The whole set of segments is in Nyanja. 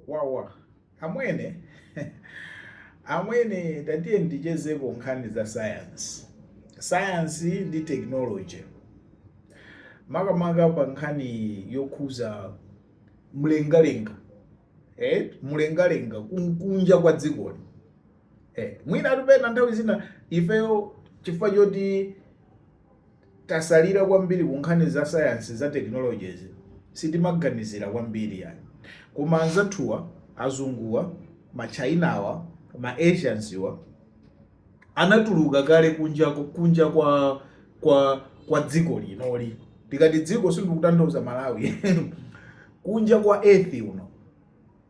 Wawa amwene amwene tatiyeni tichezeko nkhani za science science ndi technology makamaka pa nkhani yokhuza mlengalenga eh? mlengalenga kun- kunja kwa dzikoli eh. mwina mwa tupena nthawi zina ifeyo chifukwa choti tasalira kwambiri kunkhani za science za technologies sitimaganizira kwambiri yayi koma anzathuwa azunguwa machinawa ma asiansiwa anatuluka kale kunja kunja kwa kwa kwa dziko linoli tikati dziko sindikutanthauza malawi kunja kwa earth uno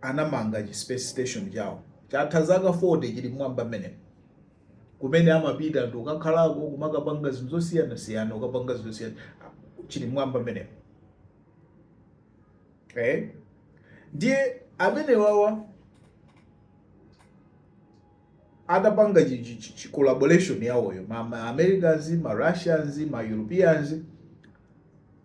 anamanga chi space station chawo chatha zaka 40 chili mmwamba mmenemo kumene amapita anthu ukakhalako kumakapanga zinthu zosiyanasiyana ukapanga zinthu zosiyana chili mmwamba mmene eh? ndiye amenewawa adapanga chi- chi- chi- chi- collaboration yawoyo ma, ma americans ma russians ma europeans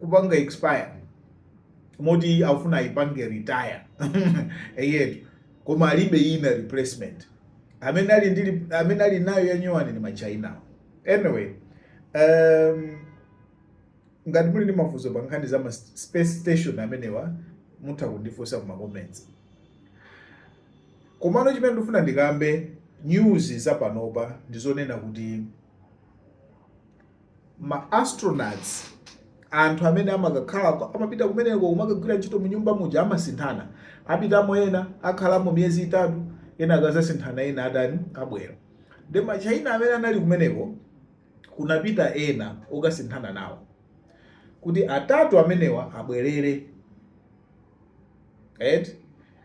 kupanga expire moti afuna ayipange retire eyetu koma alibe ina replacement amene ali ndi amene ali nayo yanyowani ni ma China anyway um, ngati muli ndi mafunso pa nkhani za ma space station amenewa mutha kundifunsa kuma comments komano chimene ndifuna ndikambe news za panopa ndizonena kuti ma astronauts anthu amene amakakhala amapita kumeneko kumakagwira ntchito mu nyumba muja amasinthana apitamo ena akhalamo miyezi itatu ena akazasinthana ena atani abwera ndiye ma China amene anali kumeneko kunapita ena okasinthana nawo kuti atatu amenewa abwerere right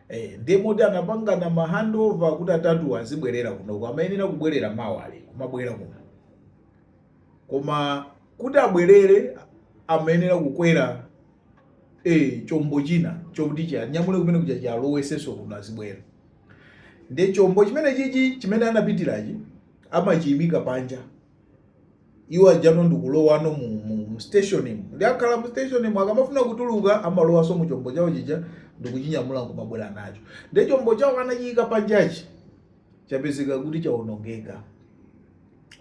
eh ndiye moti anapangana ma handover kuti atatu azibwerera kunoko amayenera kubwerera mawali kumabwera kuno koma kuti abwerere amayenera kukwera e chombo china chokuti chianyamule kumene kuja chialowesenso kuno azibwera ndiye chombo chimene chichi chimene anapitirachi amachiyimika panja iwo aja ndikulowano mu, mu, mu stationi ndiye akhala mu stationi akamafuna kutuluka amalowanso mu chombo chawo chija ndikuchinyamula nkumabwera nacho ndiye chombo chawo anachiyika panjachi chapezeka kuti chawonongeka.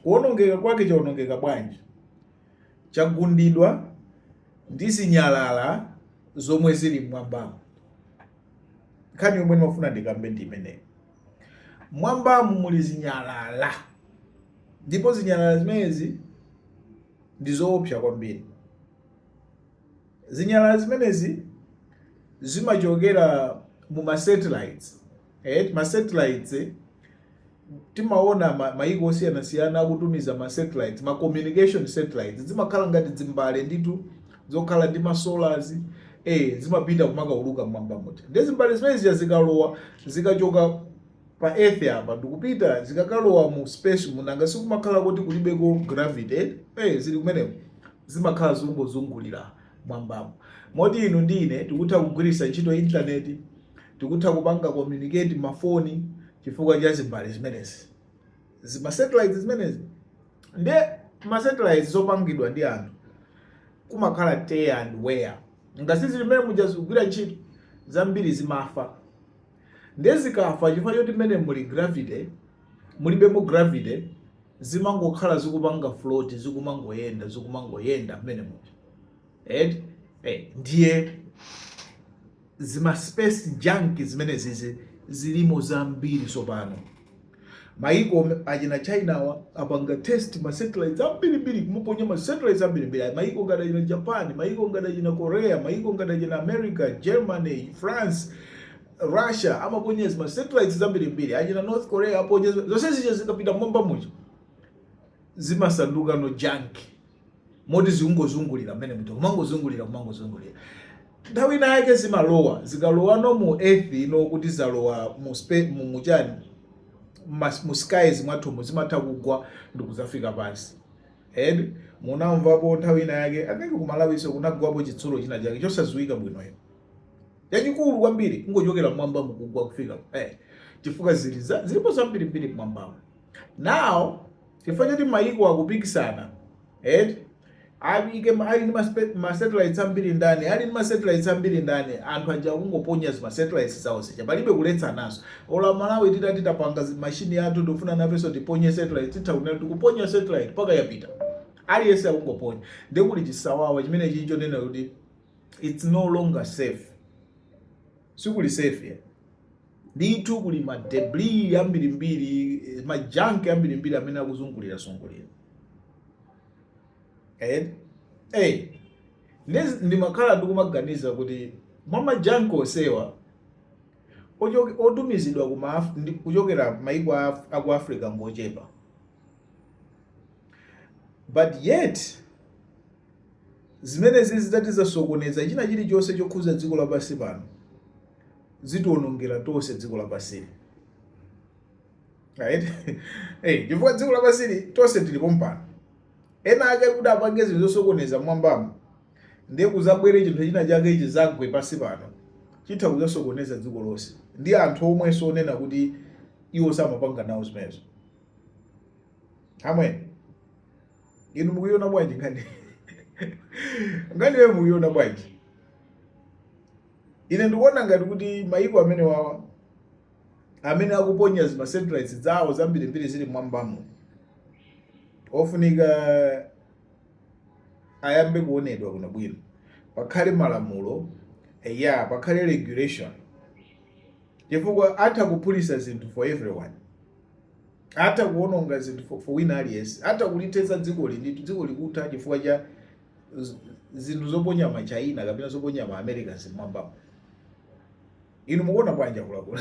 Kuwonongeka kwake chawonongeka bwanji? Chagundidwa ndi zinyalala zomwe zili mmwambamu. Nkhani yomwe ndimafuna ndikambe ndi imeneyi. Mmwambamu muli zinyalala ndipo zinyalala zimenezi ndi zoopsa kwambiri. Zinyalala zimenezi zimachokera mu ma satellites eh, ma satellites eh, timaona ma, maiko osiyanasiyana akutumiza ma satellites ma communication satellites zimakhala ngati dzimbale nditu zokhala ndi ma solars eh zimapita kumakauluka mmwambamu ti ndi zimbale zimenezi zikalowa zikachoka pa earth apa ndikupita zikakalowa mu space muja nanga sikumakhala kuti kulibeko gravity eh, eh zili kumeneko zimakhala zikungozungulira mwambamu. Moti inu ndi ine tikutha kugwiritsa ntchito intaneti, tikutha kupanga communicate mafoni chifukwa cha zimbale zimenezi, zimasetilaiti zimenezi. Nde masetilaiti zopangidwa ndi anthu kumakhala tear and wear, nanga si zili mmene muja zikugwira ntchito zambiri zimafa. ndiye zikafa chifukwa choti mmene muli gravity mulibemo gravity zimangokhala zikupanga float zikumangoyenda zikumangoyenda mmene muja eti eh, ndiye zima space junk zimenezizi zilimo zambiri tsopano Mayiko achina Chinawa apanga test ma satellites ambirimbiri, kumaponya ma satellites ambirimbiri. Mayiko ngati achina Japan, mayiko ngati achina Korea, mayiko ngati achina America, Germany, France, Russia amaponya zima satellites zambirimbiri. Achina North Korea aponya zonse zija zikapita mmwamba muja zimasandukano junk. moti zikungozungulira mmene muja kumangozungulira kumangozungulira nthawi ina yake zimalowa zikalowano mu earth ino kuti zalowa mu spa- mu- mu chani mas- mu skies mwathumu zimatha kugwa ndikuzafika pansi eh munamvapo nthawi ina yake anenge ku Malawiso kunagwapo chitsulo china chake chosadziwika bwinoyo yachikulu kwambiri kungochokera mmwamba mukugwa kufika eh, chifukwa zili za- zilipo zambirimbiri mmwambamo now chifukwa choti mayiko akupikisana eti ayike ma- ali ndi maspe- ma satellites ambiri ndani ali ndi ma satellites ambiri ndani anthu aja akungoponya zima satellites zawo zija palibe kuletsanaso ola malawi titati tapanga zi- mashini yathu tikufuna nafenso tiponye satellite titha kunena tikuponya satellite mpaka yapita aliyense akungoponya nde kuli chisawawa chimenechi chonena kuti it's no longer safe sikuli safe eh? ndithu kuli ma debris ambirimbiri eh, ma junk ambirimbiri amene akuzungulira zungulira eh? eh. ndimakhala ndikumaganiza kuti mwa ma junk onsewa otumizidwa kuchokera maiko aku africa ngochepa but yet Zimenezi zikati zizasokoneza china chilichonse chokhuza dziko lapansi pano, zitionongera tonse dziko lapansili. Chifukwa dziko lapansili tonse tilipo pompano. Ena ake kuti apange zinthu zosokoneza mwambamo ndiye kuzabwere chinthu china chake chizagwe pansi pano chitha kuzasokoneza dziko lonse ndi anthu omwenso onena kuti iwo samapanga nawo zimenezo. Amen. Inu mukuiona bwanji nkhani? Nkhani imeneyo mukuiona bwanji? Ine ndikuona ngati kuti mayiko amenewawa amene akuponya zima satellites zawo zambirimbiri zili mwambamo ofunika ayambe kuonedwa kaye bwino, pakhale malamulo a pakhale regulation, chifukwa atha kuphulisa zinthu for everyone. atha kuwononga zinthu for wina aliyense atha kulithetsa dzikoli ndithu dziko likutha chifukwa cha zinthu zoponya ma china kapena zoponya ma americans mmwambamo inu mukuona bwanji akuluakulu